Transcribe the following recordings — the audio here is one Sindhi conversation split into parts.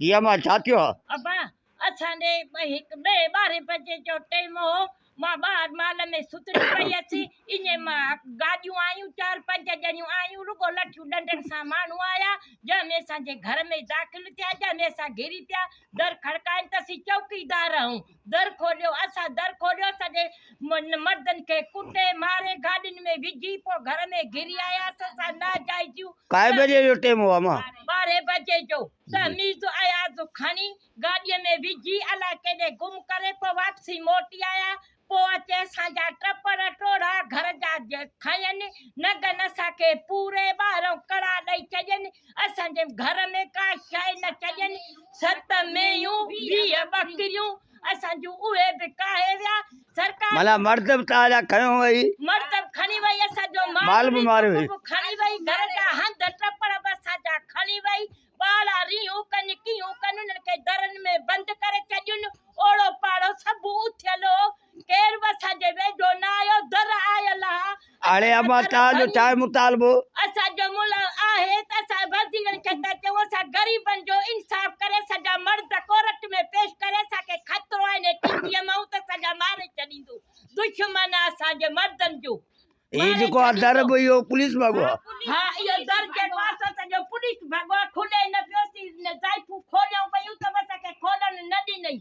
ڌيء مان ڇا ٿيو ها؟ ابا! اسان ڏي ٻه هڪ ٻئي ٻارهين بجي جو ٽيم هو، مان ٻاهر مال ۾ ستڙي پئي هيس، ايئن مان گاڏيون آيون، چار پنج ڄڻيون آيون، رڳو لٺيون ڏنڊن سان ماڻهو آيا، جنهن ۾ اسان جي گهر ۾ داخل ٿيا، جنهن ۾ اسان گهري پيا، در کڙڪائين ته اسين چوڪيدار هئون. در کوليو اسان در کوليو سڄي مردن کي ڪٽي ماري گاڏين ۾ وجهي پو گهر ۾ گهري آياس اسان ناجائزيون ڪائي بجي جو ٽيم هو اما ٻارهين بجي جو تهميز اياز کڻي گاڏي ۾ وجهي الا ڪيڏي گم ڪري پو واپسي موٽي آيا پو اچي اسان جا ٽپڙ ٽوڙا گهر جا کين نگن اسان کي پوري ٻاهرئون ڪڙا ڏئي ڇڏين اسان جي گهر ۾ ڪا شيء نه چڄين، ست مينهيون، ويهه ٻڪريون، اسان جون اهي به ڪاهي ويا، سرڪار! معنيٰ مرد به توهان جا کنيو وئي. مرد به کڻي وئي، اسان جو مال به ماريو وئي. به کڻي وئي، گهر جا هنڌ ٽپڙ به اسان جا کڻي وئي، ٻارڙا رينهون ڪن، ڪيئون ڪن، انهن کي درن ۾ بند ڪري چڄين، اوڙو پاڙو سڀ اٿيل هو، ڪير به اسان جي ويجهو نه آيو، در آيل آ. هاڻي اما توهان جو ڇا مطالبو؟ اسان جو ملهه آهي ته اسان وزيرن کي ٿا چئون اسان غريبن جو انصاف ڪري اسان جا مرد ڪورٽ ۾ پيش ڪري اسان کي خطرو آهي ني ٽي وي مئون ته اسان جا ماري ڇڏيندو دشمن آ اسان جي مردن جو هي جيڪو آ در به اهو پوليس ڀڳو آ. ها اهو در جيڪو آ سو اسان جو پوليس ڀڳو آ کلي نه پيو سي زائفون کوليون پيون ته به اسان کي کولڻ نه ڏنئي.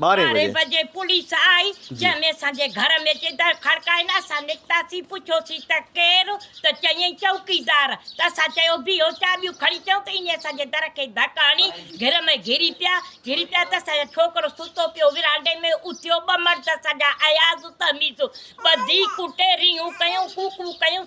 ٻارهين بجي پوليس آئي، جنهن ۾ اسان جي گهر ۾ اچي در کڙڪائين، اسان نڪتاسين، پڇيوسين ته ڪير؟ ته چيائين چوڪيدار، ته اسان چيو بيهو چاٻيون کڻي چئون ته ايئن اسان جي در کي ڌڪ هڻي گهر ۾ گهري پيا، گهري پيا ته اسان جو ڇوڪرو ستو پيو ورانڊي ۾ اٿيو، ٻه مرد اسان جا اياز تهميز ٻڌي ڪٽي رينهون ڪيون، ڪوڪون ڪيون،